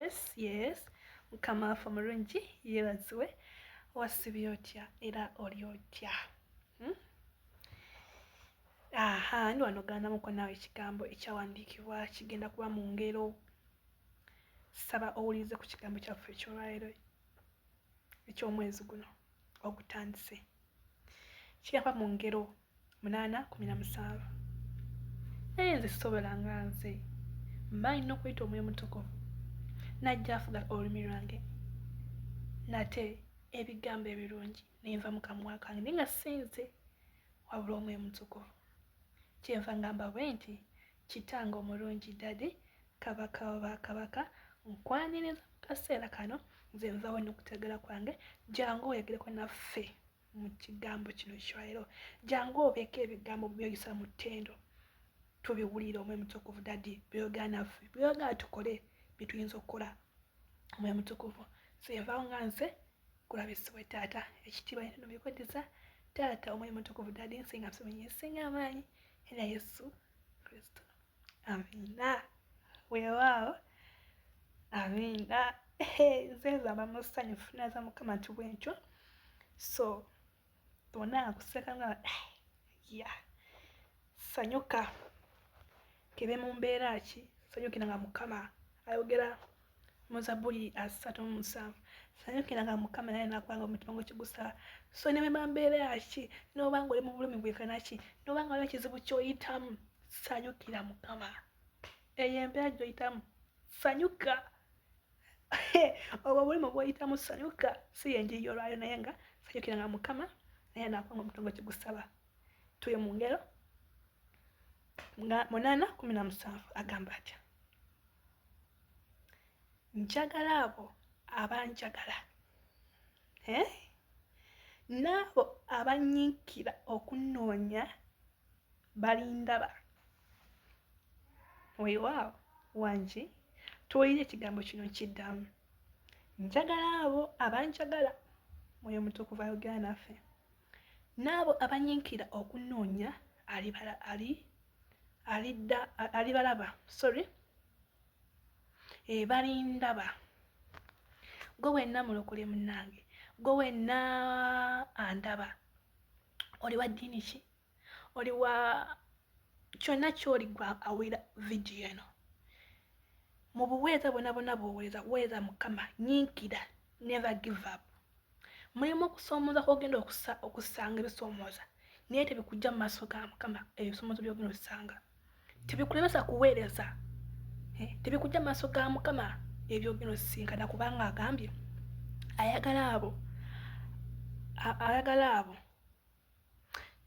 yes yes mukama waffe omulungi yebaziwe wasibye otya era oli otya hmm? aha ndi wano gandamukwa naawe ekigambo ekyawandiikibwa kigenda kuba mu ngero saba owulirize ku kigambo kyaffe ekyolwalero ekyomwezi guno ogutandise kigamba mu ngero munaana kumi na musanvu naye nze sisobola nga nze mba nina okuyita omwoyo mutukuvu najja afuga olulimi lwange nate ebigambo ebirungi nenva mu kamwa kange naye nga sinze wabula omwoyo mutukuvu kyenva ngamba bwe nti kitanga omulungi dadi kabaka oba kabaka nkwaniriza mu kaseera kano nze nvawo nokutegera kwange jangu oyogereko naffe mu kigambo kino ekiwalero jangu obeeko ebigambo byoyisa mu ttendo tubiwulire omwe mutukuvu dadi byoyogera naffe byoyogera tukole byetuyinza okukola omwe mutukuvu siyevao nga nze kulabisibwe taata ekitiibwa nitino bikweddiza taata omwe mutukuvu dadi nsinga nsinga amaanyi era yesu kristo Amina. Weewaawo. Amina. Zeeza mama musanyufu naza mukama nti bwentyo. So bona akuseka nga eh, ya sanyuka kebe mu mbeera ki sanyukira nga mukama ayogera mu zabbuli asatu mu musanvu sanyukiranga mukama naye nakwanga omutima gwe kigusaba so nebema mbeera ki noba nga oli mu bulumi bwekana ki noba nga waliwo kizibu kyoyitamu sanyukira mukama eyo embeera gyoyitamu sanyuka obwo obulumi bwoyitamu sanyuka si yenjiri yolwayo naye nga sanyukiranga mukama naye nakwanga omutima gwe kigusaba tuli mu ngero munana kumi na musanvu agamba atya njagala abo abanjagala eh? n'abo abanyiikira okunoonya balindaba weewaawo wangi tuwulire ekigambo kino kiddamu njagala abo abanjagala mwoyo mutukuvu ayogera naffe n'abo abanyiikira okunoonya alibalaba sorry ebalindaba eh, gwe wenna mulokole munnange gwe wenna andaba oli wa ddiini ki oli wa kyonna kyoli gwe awulira vidiyo eno mu buweereza bwona bwona bwoweereza weereza mukama nyiikira never give up mulimu okusoomoza kwogenda okusanga ebisoomoza naye tebikujja mu maaso ga mukama ebisoomozo byogenda osanga tebikulemesa kuweereza eh, tebikujja mu maaso ga mukama ebyogenda osisinkana kubanga agambye ayagala abo ayagala abo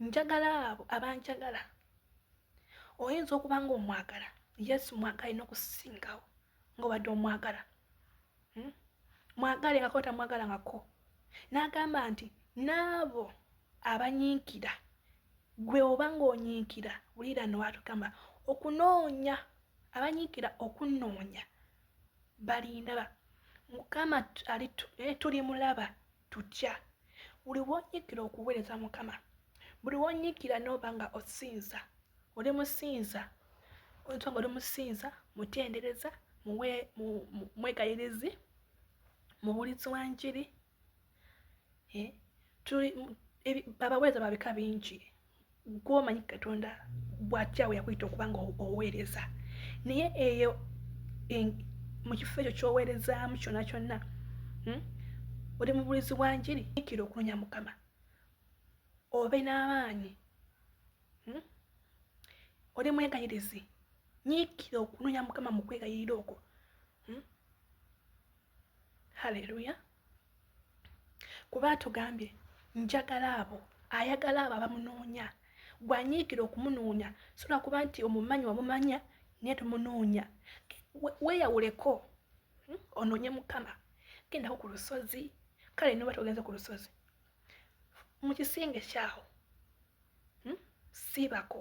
njagala abo abanjagala oyinza okuba nga omwagala yesu mwagala ina okusingawo ngaobadde omwagala hmm? mwagale ngako tamwagala ngako n'agamba nti n'abo abanyiikira gwe oba ng'onyiikira wulira nowatugamba okunoonya abanyiikira okunoonya balindaba mukama eh, tuli mulaba tutya buli wonyigira okuweereza mukama buli wonyigira nooba nga osinza oli musinza oyinza nga oli musinza mutendereza mwegayirizi mubulizi wa njiri eh, abaweereza babika bingi gwomanyi katonda bwakyawe yakuyita okuba nga oweereza naye eyo mu kifo ekyo kyoweerezaamu kyonna kyonna hmm? oli mubulizi wa njiri ikira okunoonya mukama obe n'amaanyi hmm? oli mwegayirizi nyiikira okunoonya mukama mu kwegayirira okwo hmm? haleluya kuba atugambye njagala abo ayagala abo abamunoonya gwanyiikira okumunoonya sola kuba nti omumanyi wamumanya naye tomunoonya weyawuleko hmm, onoonye mukama gendako ku lusozi kale noba togenze ku lusozi mu kisenge kyawo hmm, siibako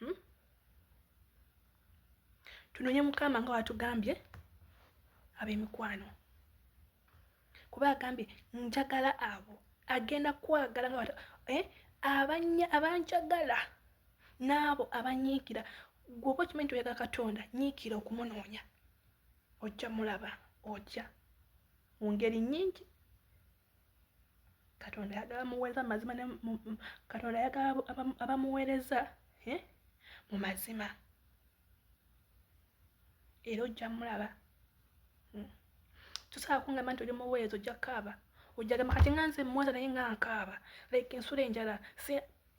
hmm? tunonye mukama nga watugambye abemikwano kuba agambye njagala abo agenda kwagala nga eh? abanjagala n'abo abanyiikira gwoba okimanyi nti oyaga katonda nyiikira okumunoonya ojja mulaba ojja mu ngeri nyingi katonda ayagala muweereza mu mazima katonda ayagala abamuweereza eh, mu mazima era ojja mulaba hmm. tusobola kungamba nti oli muweereza ojja kaaba ojja gamba kati nga nze muweereza naye nga nkaaba like ensula enjala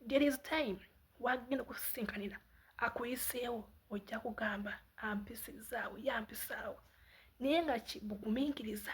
there is time wagenda okusisinkanira akuyiseewo ojja kugamba ampisizaawo yampisaawo naye nga kibugumiikiriza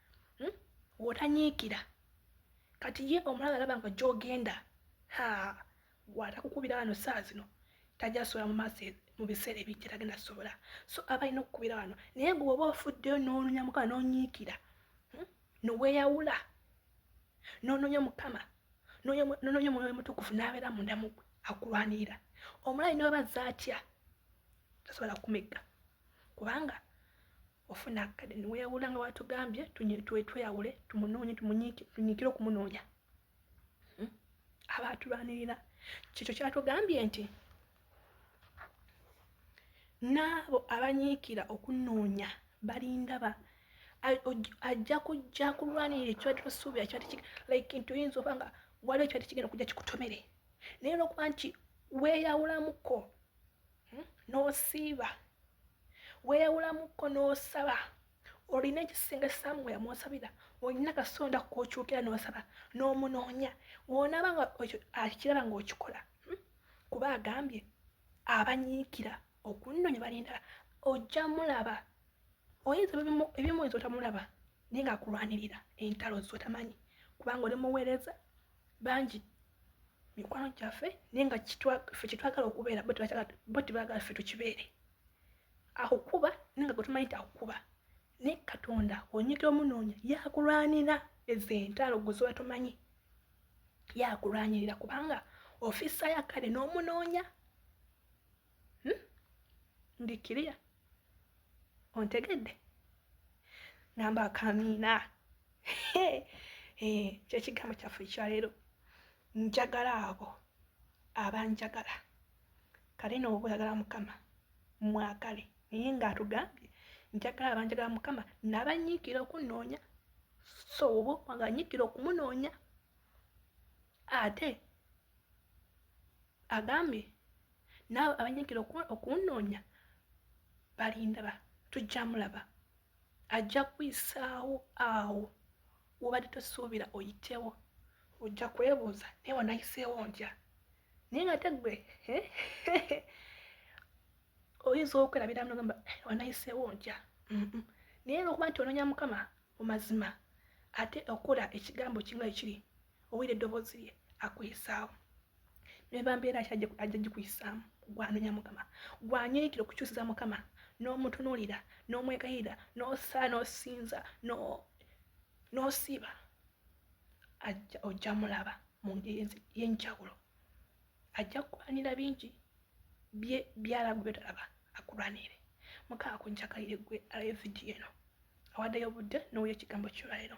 hmm? wotanyiikira kati ye omulaba alaba nga gyogenda ha watakukubira wano saa zino tajja sobola mu maaso mu biseera ebijja tagenda sobola so aba alina okukubira wano naye gwe oba ofuddeyo n'ononya mukama n'onyiikira hmm? noweyawula n'ononya mukama n'ononya omwoyo mutukufu n'abeera munda mu gwe akulwanirira omulayi ne weba zaatya tasobola kumegga kubanga ofuna akade niweyawula nga watugambye tweyawule tumunoonye tunyikire okumunoonya hmm? aba atulwanirira kyekyo kyatugambye nti n'abo abanyiikira okunoonya balindaba ajja kujja kulwanirira ekyali tosuubira kyali like nti oyinza oba nga waliwo ekyali kigenda okujja kikutomere naye olwokuba nti weeyawulamuko hmm? n'osiiba weeyawulamukko n'osaba olina ekisinga esaamu nga yamwosabira olina kasonda kwokyukira n'osaba n'omunoonya wonaaba nga akiraba ng'okikola hmm? kuba agambye abanyiikira okunnoonya balindala ojja mulaba oyinza ebimu oyinza otamulaba naye ng'akulwanirira entalo zotamanyi kubanga oli muweereza bangi mikwano gyaffe naye nga fe kyetwagala okubeera bo tebagala fe tukibeere akukuba naye nga gwetumanyi nti akukuba naye katonda onyika omunoonya yakulwanira ezo entalo gwezoba tomanyi yakulwanyirira kubanga ofisa yakale n'omunoonya hmm? ndi kiriya ontegedde ngamba akamiina eh, kyekigambo kyaffe ekyaleero njagala abo abanjagala kale noobwagala mukama mwagale naye ngaatugambye njagala abanjagala mukama nabanyiikira okunoonya so oba okwanga nyiikira okumunoonya ate agambye naawe abanyigira okunnoonya balindaba tujja mulaba ajja kuyisaawo awo wobadde tosuubira oyitewo ojja kwebuuza naye wanayiseewo ntya naye nga te gwe oyinza okwerabira mnogamba eh, wanayiseewo ntya naye lwokuba nti ononya mukama mu mazima ate okola ekigambo kimu ekiri owulira eddoboozi lye akuyisaawo neba mbeera ki ajja gikuyisaamu gwanonya mukama gwanyiikira okukyusiza mukama n'omutunuulira n'omwegayirira n'osaa n'osinza n'osiiba ajja ojja mulaba mu ngeri yenjawulo ajja kulwanira bingi bye byalagu byotalaba akulwanire mukama kunjakalire gwe alaba evidiyo eno awaddeyo obudde n'owulira ekigambo kyolwalero